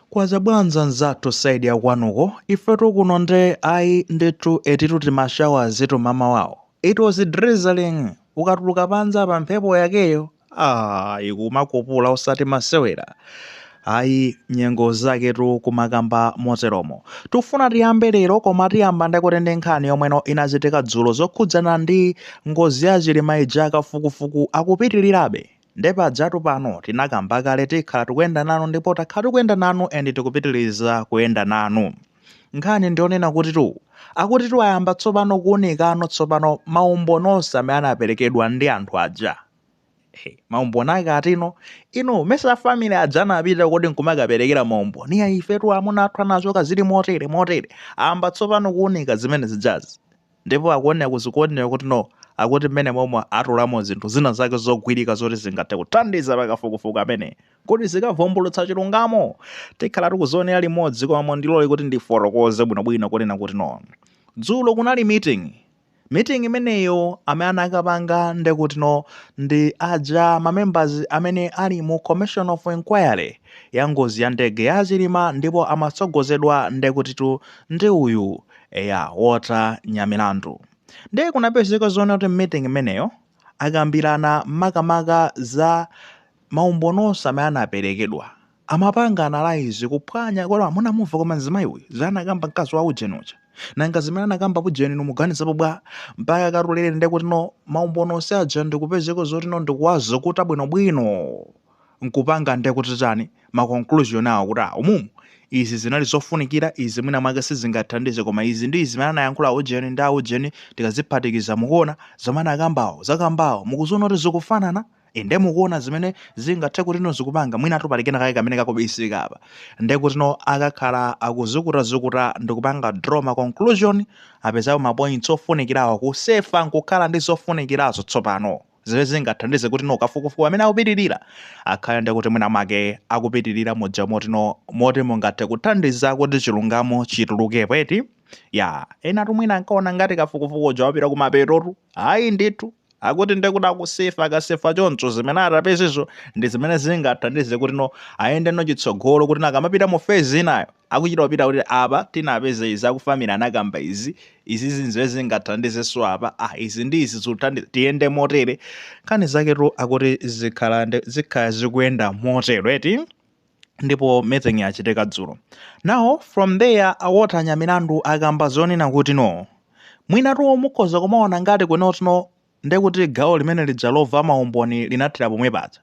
Kwacha bwanji anzathu side ya kwanuko ifetu kuno nde ayi ndithu etitu tima showers tu mamawawo it was drizzling ukatuluka panja pa mphepo yakeyo aah ikumakupula osati masewera ayi nyengo zake tu kumakamba moteromo tufuna tiyambe lero koma tiyamba ndekuti ndi nkhani yomweno inachitika dzulo zokhudzana ndi ngozi ya chilima ija kafukufuku akupitirirabe Nde pajatu pano tinakamba kale tikhala tikuyenda nanu ndipo takhala tikuyenda nanu and tikupitiliza kuyenda nanu. Nkhani ndiyonena kutitu akutitu ayamba tsopano kuunikano tsopano maumboni onse amene anapelekedwa ndi anthu aja. Hey, maumboni ake atino? Inu, mesa a family aja anapita kuti nkumakapelekera maumboni? Iya ifetu amuna athu anachoka zili motere motere. Ayamba tsopano kuunika zimene zijazi. Ndipo akuoneka zikuoneka kuti no akuti mmene momwe atulamo zinthu zina zake zogwirika zoti zingathe kuthandiza pa kafukufuku amene kuti zikavumbulutsa chilungamo tikhala tikuzionera limodzi koma mondilole kuti ndifotokoze bwinobwino kunena kuti no dzulo kunali meeting meeting imeneyo amene anakapanga ndekuti no ndi aja mamembers amene ali mu commission of inquiry ya ngozi ya ndege ya chilima ndipo amatsogozedwa ndekutitu ndi uyu Eya, Walter Nyamilandu. Ndiye kunapezeka zoona kuti meeting imeneyo akambirana makamaka za maumboni onse amene anaperekedwa amapanga analyze kuphwanya kodi munamumva koma mzimayi uyu zanakamba mkazi wa ujeni uja nanga zimene anakamba ujeni inu muganizapo bwa mpaka katulere ndekuti no maumboni onse aja ndikupezeka zoti no ndikuwazukuta bwinobwino nkupanga nde kuti chani, ma conclusion awo kuti ah umumu izi zinali zofunikira, izi mwina mwake sizingathandize koma izi ndi izi zimene anayankhula aujeni ndi aujeni tikaziphatikiza mukuona zomwe anakambawo, zakambawo mukuziona kuti zikufanana? I nde mukuona zimene zingathe kutino zikupanga, mwinatu pali kena kake kamene kakubisika apa nde kutino akakhala akuzukutazukuta ndikupanga draw ma conclusion apezapo ma points ofunikirawo kusefa nkukhala ndi zofunikirazo tsopano. zimene zingathandize kuti no kafukufuku amene akupitirira akhale ndekuti mwina mwake akupitirira muja moti no moti mungathe kuthandiza kuti chilungamo chitulukepo eti ya enatu mwina ankaona ngati kafukufuku uja wapita kumapetotu ayi ndithu akuti ndekuti akusefa akasefa choncho zimene atapezezo ndi zimene zingathandize kuti no ayende no chitsogolo kuti nakamapita mu phase inayo Akuchita kupita kuti apa tinapeza izi aku family anakamba izi, izizi nzimene zingathandizenso apa, ah izi ndi izi zikuthandiza tiyende motere, nkhani zaketu akuti zikhala ndi zikhala zikuyenda motero eti, ndipo meeting yachitika dzulo. Now from there a Walter Nyamilandu akamba zonena kuti no mwinatu mukhoza kumaona ngati kuti no Ndiye kuti gawo limene lija lomva maumboni linathera pomwe paja.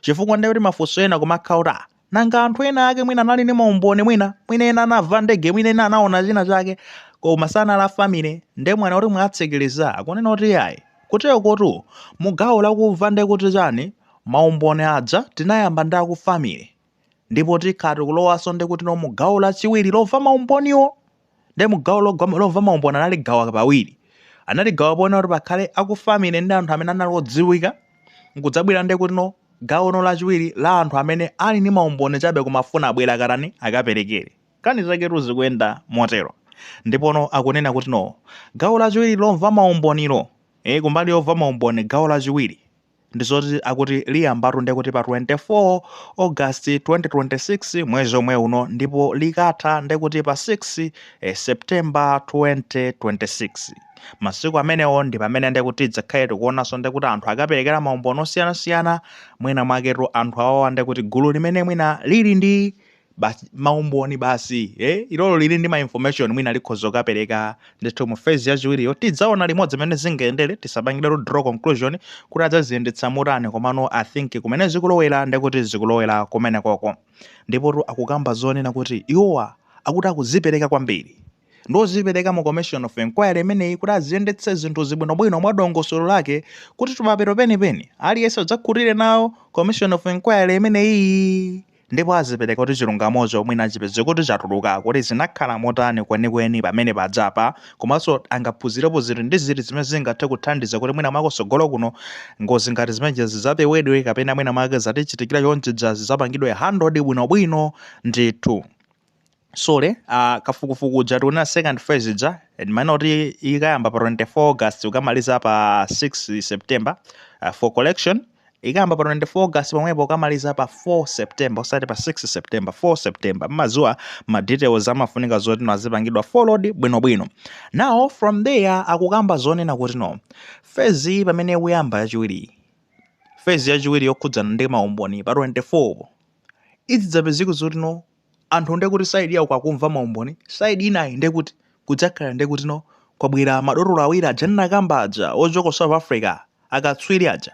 Chifukwa ndiye kuti mafunso ena kumakhala kuti ah, nanga anthu ena ake mwina anali ndi maumboni mwina, mwina ena anamva ndege, mwina ena anaona china chake, koma sanali a family, ndiye mwaona kuti mwatsekereza, akunena kuti yayi. Kutero kotu, mu gawo lakumva ndiye kuti chani, maumboni aja tinayamba ndi a ku family. ndipo tikhala tikulowanso ndi kuti no mu gawo lachiwiri lomva maumboniwo ndi mu gawo logwa- lomva maumboni analigawa pawiri analigawa poona kuti pakhale akufamily ndi anthu amene anali odziwika nkudzabwera ndi kuti no gawo no lachiwiri la anthu amene ali ndi maumboni chabe koma afuna abwere akatani akaperekere nkhani zaketu zikuyenda motero ndipono akunena kuti no gawo lachiwiri lomva maumbonilo eh, kumbali yomva maumboni gawo lachiwiri ndizoti akuti liyambatu ndekuti pa 24 august 2026 mwezi omwe uno ndipo likatha ndekuti pa 6 eh, september 2026 masiku amenewo ndi pamene ndekuti tidzakhale tikuonanso ndekuti anthu akaperekera maumboni osiyanasiyana mwina mwaketu anthu awawa ndekuti gulu limene mwina lili ndi maumboni basi eh? ilolo lili ndi ma information mwina likhoza kukapereka ndithu mu phase yachiwiriyo tidzaona limodzi mmene zingayendere tisapangiretu draw conclusion kuti adzaziyendetsa motani komano i think kumene zikulowera ndekuti zikulowera kumene koko ndipo akukamba zonena kuti iwowa akuti akuzipereka kwambiri ndozipereka mu commission of inquiry imeneyi kuti aziyendetse zinthu zibwinobwino mwa dongosolo lake kuti kumapeto penipeni aliyense adzakhutire nawo commission of inquiry imeneyi ndipo azipereka kuti chilungamocho mwina achipeze kuti chatuluka kuti zinakhala motani kwenikweni pamene pajapa komanso angaphunzirepo zinthu ndi ziti zimene zingathe kuthandiza kuti mwina mwake tsogolo kuno ngozi ngati zimenezo zidzapewedwe kapena mwina make zatichitikira chonchija zidzapangidwe handled bwinobwino ndithu so uh, kafukufuku uja tiona second phase ija ndimaona kuti ikayamba pa 24 august ukamaliza pa 6 september uh, for correction ikayamba pa 24 august pomwepo ukamaliza pa 4 september osati pa 6 september 4 september mmadziwa ma details amafunika zoti no azipangidwa followed bwinobwino now from there akukamba zonena kuti no phase iyi pamene ikuyamba yachiwiri phase yachiwiri yokhudzana ndi maumboni pa 24 zidzapezeka zoti no anthu nde kuti side yawo kwakumva maumboni side inayi nde kuti kudzakhala nde kuti no kwabwera madotolo awiri aja ndinakamba aja ochoka ku south africa akatswiri aja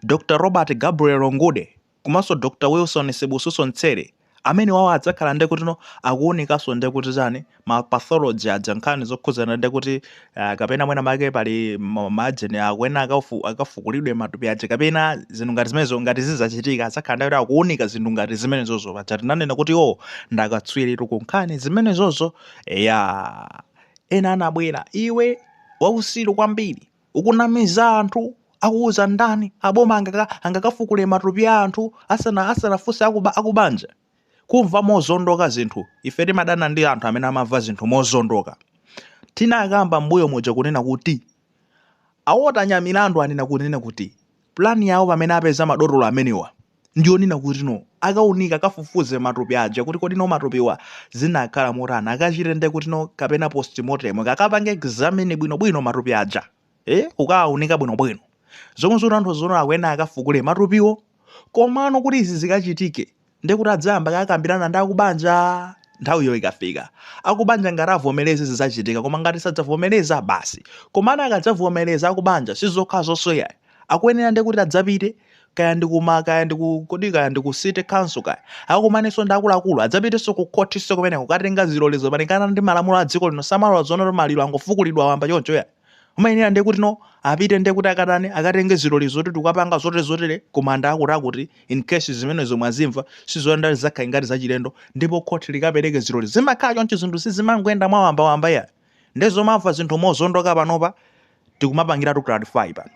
dr robert gabriel ngude komanso dr wilson sibusiso mtsere amene awawa adzakhala nde kuti no akuwunikanso nde kuti chani ma pathology aja nkhani zokhudzana ndi kuti ah, kapena mwina make pali ma- majeni akuyenera akafu- akafukulidwe matupi aja kapena zinthu ngati zimenezo ngati zizachitika adzakhala ndi kuti akuunika zinthu ngati zimenezozo paja tinanena kuti o ndakatswiritu ku nkhani zimenezozo eya ena anabwera iwe wausiru kwambiri ukunamiza anthu akuuza ndani aboma angaka- angakafukule matupi a anthu asana asanafunse akuba akubanja kumva mozondoka zinthu ife timadana ndi anthu amene amamva zinthu mozondoka tinakamba mbuyo moja kunena kuti a Walter Nyamilandu anena kunena kuti plani yawo pamene apeza madotolo amenewa ndi yonena kuti no akaunika akafufuze matupi aja kuti kodi no matupiwa zinakhala motani akachite nde kuti no kapena postmortem akapange examine bwinobwino matupi aja eh kukawaunika bwinobwino zomwe zikutanthauza zoti akuyenera akafukule matupiwo komano kuti izi zikachitike ndiye kuti adzayamba akakambirana ndi akubanja nthawiyo ikafika akubanja ngati avomereze zidzachitika koma ngati sadzavomereza basi komano akadzavomereza akubanja sizokhazonso ayi akuyenera ndiye kuti adzapite kaya ndi kuma kaya ndi ku kodi kaya ndi ku city council kaya akumanenso ndi akuluakulu adzapitenso ku khothinso kumeneko kukatenga zilolezo malingana ndi malamulo a dziko lino samalola zoona kuti maliro angofukulidwa wamba choncho ayi umayenera ndiye kuti no apite ndiye kuti akatani akatenge zilolezo kuti tikapanga zotere zotere kumanda akuti akuti in case zimenezo mwazimva sizoyenda zakhala ngati zachilendo ndipo khoti likapereke zilolezo zimakhala choncho zinthu sizimangoyenda mwawambawamba ayi nde zomamva zinthu mozondoka panopa tikumapangiratu clarify pano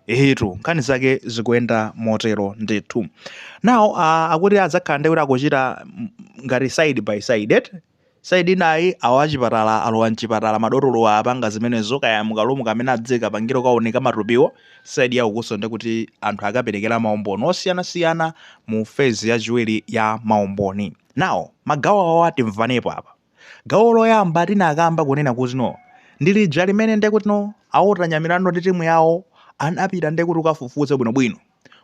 ehetu nkhani zake zikuyenda motero ndithu now uh, akuti adzakhala ndi kuti akuchita ngati side by side eti saidi inayi awa achipatala alowa mchipatala madotolo apanga zimenezo kaya mukalumu kamene adzikapangira kuunika matupiwo saidi ya ukunso ndi kuti anthu akaperekera maumboni osiyanasiyana mu fezi yachiwiri ya maumboni now magawo awa timvanepo apa Gawo loyamba tinakamba kunena kuti no ndi lija limene nde kuti no a Walter Nyamilandu ndi timu yawo anapita nde kuti kukafufuza bwinobwino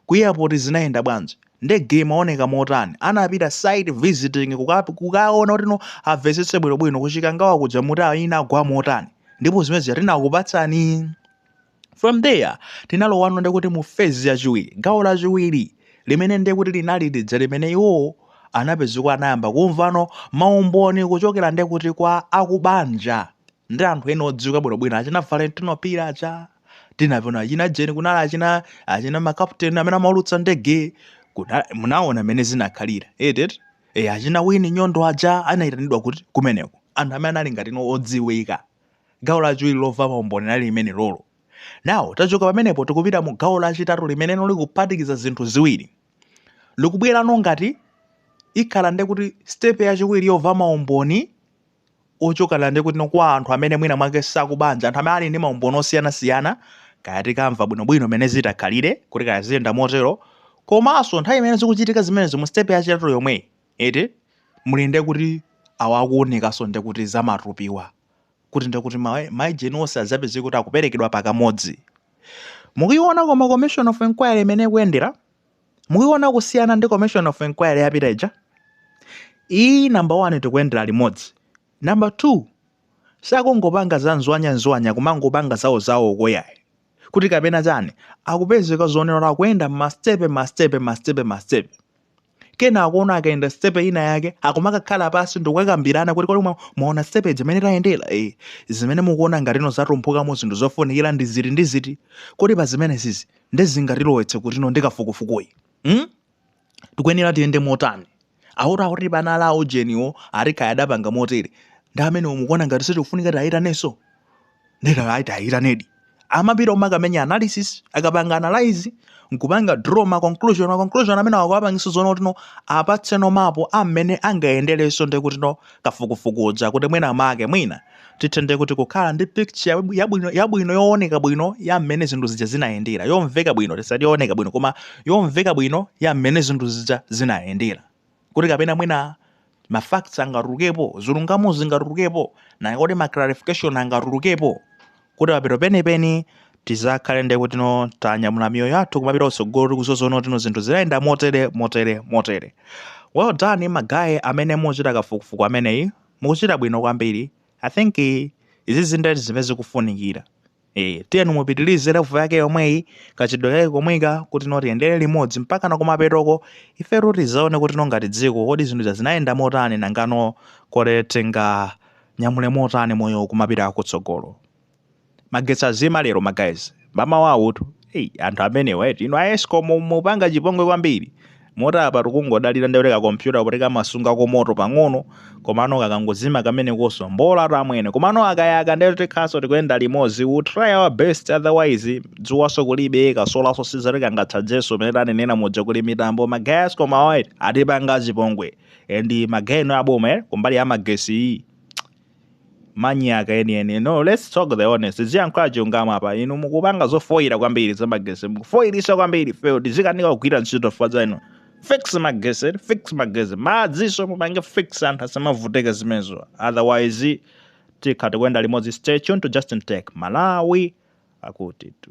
ku airport zinayenda bwanji ndege imaoneka motani anapita site visiting kuka kukaona kuti no amvetsetse bwinobwino ku Chikangawa kuja kuti inagwa motani ndipo zimene zija tinakupatsani from there tinalowano ndekuti mu phase yachiwiri gawo lachiwiri limene ndekuti linali lija limene iwowo anapezeka anayamba kumvano maumboni kuchokera ndekuti kwa akubanja ndi anthu ena odziwika bwinobwino achina valentino phiri aja tinaona achina jeni kunali achina achina makapteni amene amaulutsa ndege kuna- munaona mmene zinakhalira eti e, achina wini nyondo aja anayitanidwa kuti kumeneko anthu amene anali ngati no odziwika Gawo lachiwiri lomva maumboni linali limene lolo. Now tachoka pamenepo tikupita mu gawo lachitatu limene likuphatikiza zinthu ziwiri. Likubwerano ngati ikhala ndi kuti sitepe yachiwiri yomva maumboni ochokera ndi kuti kwa anthu amene mwina mwake akubanja, anthu amene ali ndi maumboni osiyanasiyana, kaya tikamva bwinobwino mmene zitakhalire kuti kaya ziyenda motero, komanso nthawi imene zikuchitika zimenezo mu sitepe yachitatu yomweyi. Muli nde kuti awa akuwunikaso nde kuti za matupiwa kuti nde kuti ma ijeni onse azapezeke kuti akuperekedwa pakamodzi? Mukuyiwona koma commission of enquiry mmene ikuyendera? Mukuyiwona kusiyana ndi commission of enquiry yapita ija? Iyi number 1 tikuyendera limodzi. Number 2 sakungopanga za nzwanya nzwanya kumangopanga zawo zawo koyayi kuti kapena chani akupezeka zoona kuti akuyenda mastepe mastepe mastepe mastepe kenako no akayenda stepe ina yake akumakakhala pansi ndikukakambirana kuti kodi mwaona stepe ija mmene tayendera e zimene mukuona ngatino zatumphukamo zinthu zofunikira ndi ziti ndi ziti kodi pa zimenesizi nde zingatilowetse kutino ndi kafukufukuyu hmm? tikuyenera tiyende motani auti auti bana ala aujeniwo ati kaya adapanga motere ndi amenewo mukuona ngati sitikufunika tiwayitanenso nde ataayitanadi amapita kumakamenya analysis akapanga analyze nkupanga draw ma conclusion ma conclusion amene akawapangisa zona kuti no apatse no mapo amene angayendereso ndi kuti no akafukufuku uja kuti mwina make mwina tithe nde kuti kukhala ndi picture yabu- yabwino yabwino yooneka bwino ya mmene zinthu zija zinayendera, yomveka bwino tisati yooneka bwino koma yomveka bwino ya mmene zinthu zija zinayendera kuti kapena mwina ma facts angatulukepo zilungamo zingatulukepo na kuti ma clarification angatulukepo kuti papeto penipeni tizakhale ndi kuti no tanyamula miyoyo yathu kumapita kutsogolo tikuziwa zoona kuti no zinthu zinayenda motere motere motere well done magayi amene muchita kafukufuku ameneyi mukuchita bwino kwambiri i think izi zinthu zimene zikufunikira Eh, tiyeni mupitilize level yake yomweyi kachitidwe kake komweka kuti no tiyendere limodzi mpaka na kumapetoko ife tizaone kuti no ngati dziko kodi zinthu zinayenda motani nangano kodi tinganyamule motani moyo kumapita kutsogolo magetsi azima lero magayizi mmamawa uwutu Hey, anthu amenewa eti inu a ESCOM mupanga chipongwe kwambiri moti apa tikungodalira ndikuti kakompyuta kamasunga komoto pang'ono komano kakangozima kamenekonso mbola tamwene komano akayaka ndikuti tikhalaso tikuyenda limodzi we try our best otherwise dzuwaso kulibe kasolaso si zoti kangatchajeso pamene tanenera muja kuli mitambo magayizi koma atipanga chipongwe and magayi inu aboma eh, kumbali ya magesi iyi manyaka enieni no let's talk the honest ziyankhula chilungamo apa inu mukupanga zofoyira kwambiri za magesi mukufoyirisha kwambiri ife tizikanika kugwira ntchito chifukwa cha inu fix magesi fix magesi madzinso mupange fix anthu asamavutike zimenezo otherwise tikhala tikuyenda limodzi stay tuned to justin tech malawi akuti tu